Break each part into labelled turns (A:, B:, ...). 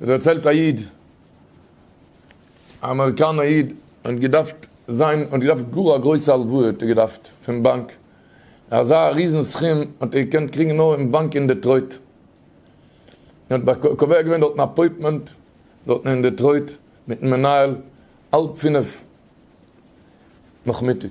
A: דערציילט א איד, א אמעריקאנער איד האט געדארפט זיין, האט געדארפט גאר א גרויסע הלוואה האט ער געדארפט פון באנק, אזא ריזן סכום האט ער געקענט קריגן נאר אין באנק אין דעטרויט, ער האט קובע געווען דארטן אפויטמענט דארטן אין דעטרויט מיטן מנהל האלב פינף נאכמיטאג,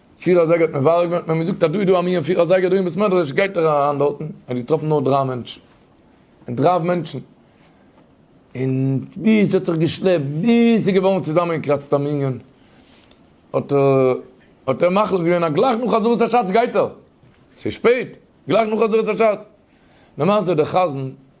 A: פֿיר אַזייגער האָט מען וואַרעם געמאַכט, מע האָט מיר געזאָגט, אַז דאָ איז דאָ אַ מין פֿיר אַזייגער דאָ אין בית-מדרש, גייט איר אַרײַן דאָרטן. ער האָט געטראָפֿן נאָר דרײַ מענטשן. און דרײַ מענטשן. און ווי ס'האָט זיך געשלעפּט, ביז ס'איז געוואָרן צוזאַמענגעקראַצט אַ מנין, האָט ער, האָט ער מחליט געווען, אַז גלײַך נאָך חזרת-השץ גייט ער. ס'איז שפּעט, גלײַך נאָך חזרת-השץ. למעשה, דער חזן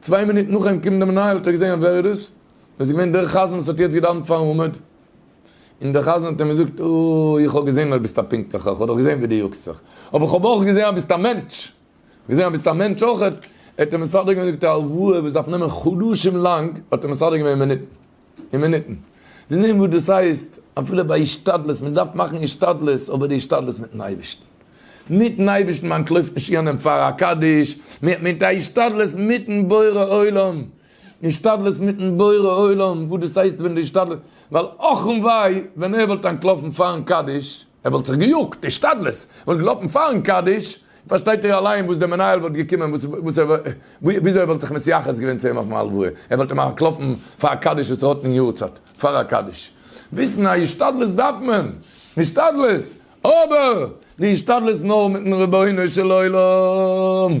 A: צוויי מינוט נאך אים קומען די מנהל האט ער געזעהן אז ווער איז דאס? דאס איז געווען דער חזן וואס האט יעצט געדאווענט פארן עמוד, און דער חזן האט אים געזאגט אוי איך האב געזעהן אז ביסט א פונקטליכער, איך האב דאך געזעהן ווי דו יאגסט זיך, אבער איך האב אויך געזעהן אז ביסט א מענטש, געזעהן אז ביסט א מענטש אויכעט, ער האט אים מסדר געווען זאגט ער הלוואה וואס דארף נעמען חדשים לאנג האט ער מסדר געווען אין מינוטן. און מינוטן. זיי זעען וואס דאס הייסט אפילו ביי השתדלות, מען דארף מאכן השתדלות, אבער די השתדלות מיטן אייבערשטן. מיטן אייבערשטן, מיין קלויבט נישט יענעם פאר א קדיש, מען האט מיט א השתדלות מיטן בורא עולם. השתדלות מיטן בורא עולם, וואס דאס הייסט ווען די השתדלות, ווייל אכמ ו ווען ער וואלט אנטלאפן פארן קדיש, ער וואלט זיך געיאגט, השתדלות, וואלט געלאפן פארן קדיש, פארשטייט איר אליין וואס דער מנהל וואלט געקומען, וואס ער, וויאזוי ער וואלט זיך מתייחס געווען צו אים אויפן הלוואה, ער וואלט אים אנטלאפן פאר א קדיש וואס ער האט אין יארצייט, פאר א קדיש. וויסן אז השתדלות דארף מען, השתדלות, אבער די השתדלות נאר מיטן רבונו של עולם.